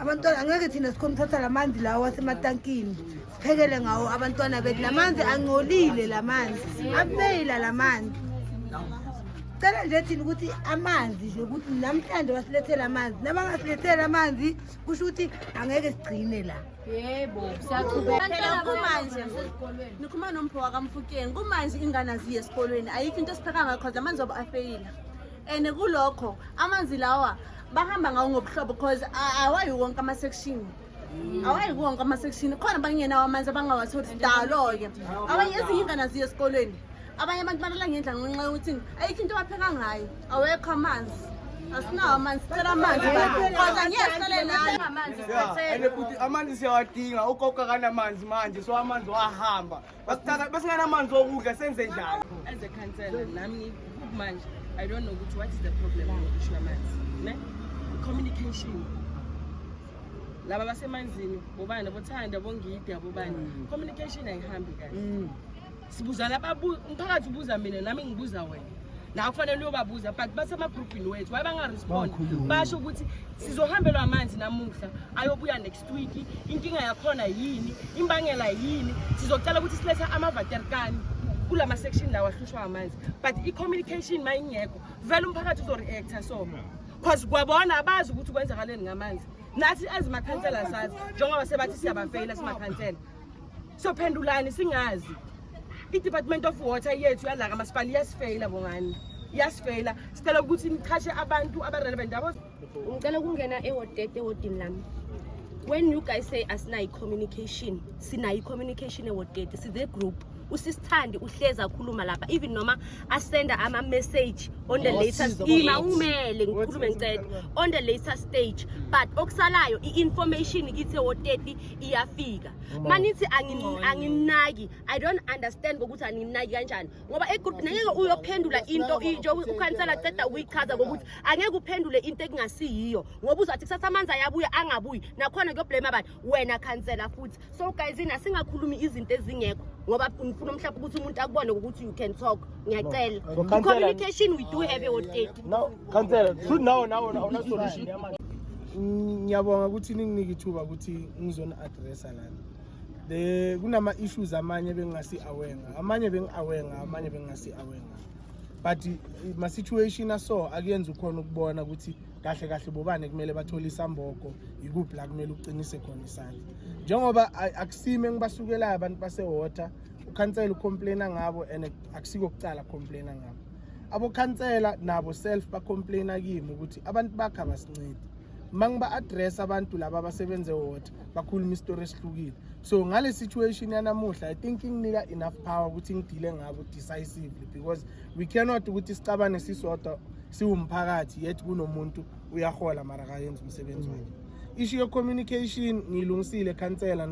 abantwana angeke thina sikhona ukuthatha la manzi lawo asematankini siphekele ngawo abantwana bethu la manzi angcolile la manzi abeyila la manzi cela nje thina ukuthi amanzi nje ukuthi namhlanje wasilethela amanzi nabangasilethela amanzi kusho ukuthi angeke sigcine la yebo siyaqhubekela kumanje nikhuluma nompho wakamfukeni kumanje ingane aziye esikolweni ayikho into esipheka ngakho amanzi wabo afeyila and kulokho amanzi lawa bahamba ngawo ngobuhlobo because awayi wonke ama-section mm. awayi wonke ama-section khona bangenawo amanzi abangawatholi sidalo-ke abanye ezinye ingana ziye esikolweni abanye abantu balala ngendla ngenxa yokuthi ayikho into abapheka ngayo awekho amanzi asinawo amanzi sicela amanzi kodwa ngeke sicele nayo amanzi siphethele amanzi siyawadinga ugogo akanamanzi manje so amanzi wahamba Basithatha basinganamanzi okudla senze njani? As a councillor nami manje I don't know ukuthi what is the problem ngokusho amanzi. Ne? Communication. Laba basemanzini bobani bothanda bongidi abobani. Mm. Communication ayihambi kahle. Mm. Sibuzana ababu umphakathi ubuza mina nami ngibuza wena. la kufanele uyobabuza but basemagruphini wethu waye bangarespond basho ukuthi sizohambelwa amanzi namuhla ayobuya next wiki inkinga yakhona yini imbangela yini sizocela ukuthi silethe amavaterkani kula ma-section lawo ahlushwa amanzi but i-communication ma ingekho vele umphakathi uzo-reacta so cause kwabona abazi ukuthi kwenzakaleni ngamanzi nathi ezimakhansela sazi njengoba sebathi siyabafeyila simakhansela sophendulani singazi i-department of water yethu yalaka masipala iyasifeyila bongani iyasifeyila sicela ukuthi nichashe abantu abarelevant abo ngicela ukungena ewodete ewodini lami when you guys say asinayo i-communication sinayo i-communication ewodete sithe group usisithandi uhlezi akhuluma lapha even noma asenda ama-message on the latest ima umele ngikhulume ngicela on the later stage but okusalayo i-information kithi ewoteti iyafika manithi anginaki i don't understand ngokuthi anginaki kanjani ngoba egroup nangeke uyophendula into into ukhansela ceda ukuyichaza ngokuthi angeke uphendule into ekungasiyiyo ngoba uzathi kusasa amanzi ayabuya angabuyi nakhona kuyoblame abantu wena khansela futhi so guys ina singakhulumi izinto ezingekho ngoba ngifuna mhlawumbe ukuthi umuntu akubone ukuthi you can talk ngiyacela no. so, communication we do have a date now khansela should now now awuna solution ngiyabonga ukuthi ninginike ithuba ukuthi ngizona addressa lana the kunama issues amanye bengingasi aware ngawo amanye bengi-aware ngawo amanye bengingasi aware ngawo but eh, ma situation aso akuyenzi ukhona ukubona ukuthi kahle kahle bobane kumele bathole isambogo yikuphi la kumele uqinise khona isandla njengoba akusime ngibasukelayo abantu basewater ukhansela ucomplaina ngabo and akusiko kucala complaina ngabo abokhansela nabo self bacomplaina kimi ukuthi abantu bakhe abasincedi uma ngiba-address abantu laba abasebenze water bakhuluma isitori esihlukile so ngale situation yanamuhla i think inginika enough power ukuthi ngidile ngabo decisively because we cannot ukuthi sicabane sisodwa siwumphakathi yet kunomuntu uyahola mara kayenza umsebenzi wakhe isho ye-communication ngiyilungisile khansela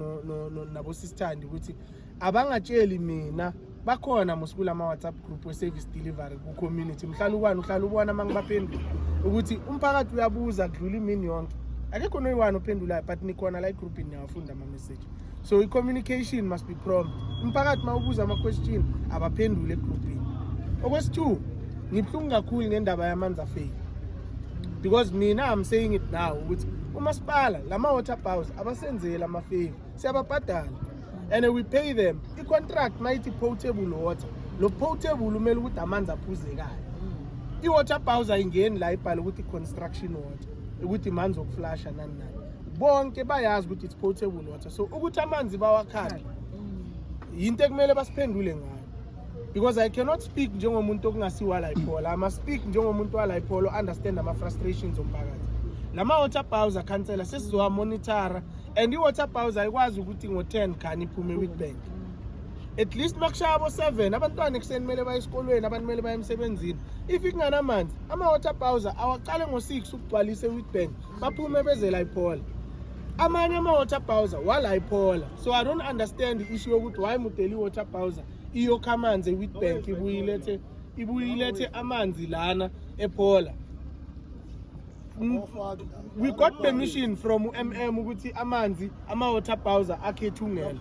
nabosisithandi ukuthi abangatsheli mina bakhona musikula ama-whatsapp group we-service delivery ku-community mhlala ukwani uhlala ubona uma ngibaphendula ukuthi umphakathi uyabuza kudlula imini yonke akekho noyiwani ophendulayo but nikhona la egroupini niyawafunda ama-message so i-communication must be prompt umphakathi uma ubuza ama-question abaphendule egroupini okwesi-two ngibuhlungu kakhulu ngendaba yamanzi afeki because mina i'm saying it now ukuthi umasipala lama-water bows abasenzeli amafevu siyababhadala and we pay them i-contract mayithi potable water lo potable umele ukuthi amanzi aphuzekayo i-water bowse ayingeni la ibhale ukuthi i-construction water ukuthi manzi okuflasha nani nani bonke bayazi ukuthi it's potable water so ukuthi amanzi bawakhale yinto ekumele basiphendule ngayo because i cannot speak njengomuntu okungasiwa la ibhola ama speak njengomuntu wala ibhola understand ama frustrations omphakathi lama water bowser khansela sesizowa monitora and i-water bowse ayikwazi ukuthi ngo-ten khani iphume i-witbank at least uma kushaya abo-seven abantwana ekuseni kumele baye esikolweni abantu kumele baye emsebenzini if kunganamanzi ama-water bowser awaqale ngo-six ukugcwalisa i-witbank baphume beze la iphola amanye ama-water bowser wala iphola so i don't understand i-issue yokuthi why mudeli i-water bowser iyokha amanzi e-witbank ibuyilethe ibuyilethe amanzi lana ephola Mm, we got permission from umm ukuthi amanzi ama-water bowser akhe ethungela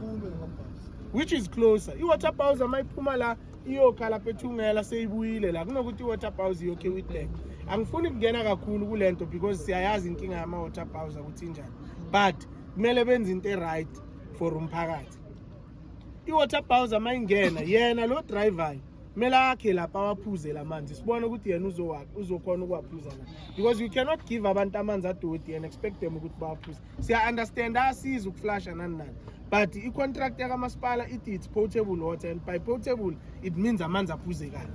which is closer i-water bowser uma iphuma la iyokha lapha ethungela seyibuyile la kunokuthi i-water bowser iyokhe witbank angifuni kungena kakhulu kule nto because siyayazi inkinga yama-water bowser ukuthi injani but kumele benze into e-right for umphakathi i-water bowser uma ingena yena lo drivayo kumele akhe lapha awaphuze la manzi sibone ukuthi yena uzokhona ukuwaphuza na because you cannot give abantu amanzi adoti and expect them ukuthi bawaphuze siya-understand asiza ukuflasha nani nani but i-contract yakamasipala ithi it's potable water and by potable it means amanzi aphuzekayo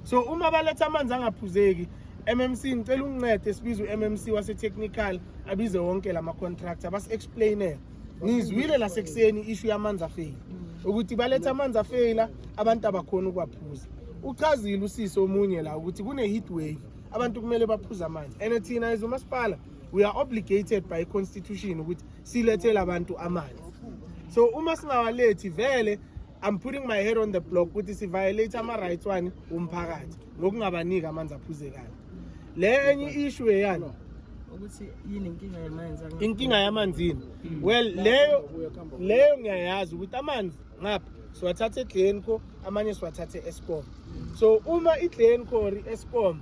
so uma baletha amanzi angaphuzeki mmc ngicela ungincede sibize u-mmc wasetechnical abize wonke la ma-contract abasi-explainele ngizwile lasekuseni ishu yamanzi afeyila ukuthi baletha amanzi afeyila abantu abakhona ukwaphuza uchazile usisi omunye la ukuthi kune-heat wave abantu kumele baphuze amanzi and thina as umasipala we are obligated by constitution ukuthi silethele abantu amanzi so uma singawalethi vele i'm putting my head on the block ukuthi siviolate ama-rights wani womphakathi ngokungabaniki amanzi aphuzekayo le enye issue eyani ukuthi yini inkinga yamanzi inkinga yamanzini well leyo leyo ngiyayazi ukuthi amanzi ngapha siwathatha eglenco amanye siwathathe escom so uma iglenco or escom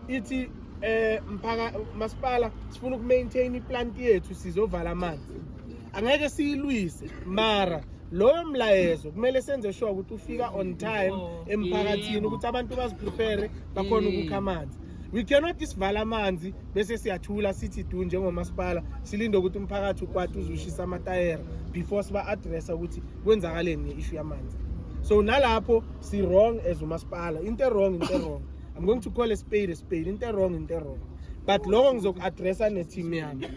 ithi eh mphaka masipala sifuna ukumaintain iplant yethu sizovala amanzi angeke siyilwise mara loyo mlayezo kumele senze sure ukuthi ufika on time oh, emphakathini ukuthi abantu baziprepare bakhona ukukha amanzi we cannot isivala amanzi bese siyathula sithi du njengomasipala silinde ukuthi umphakathi ukwati uzushisa amatayera before siba-adressa ukuthi kwenzakaleni nge-ishu yamanzi so nalapho si-wrong as umasipala into erong into erong i'm going to call a spade a spade into erong into erong but loko ngizoku-adressa ne-team yami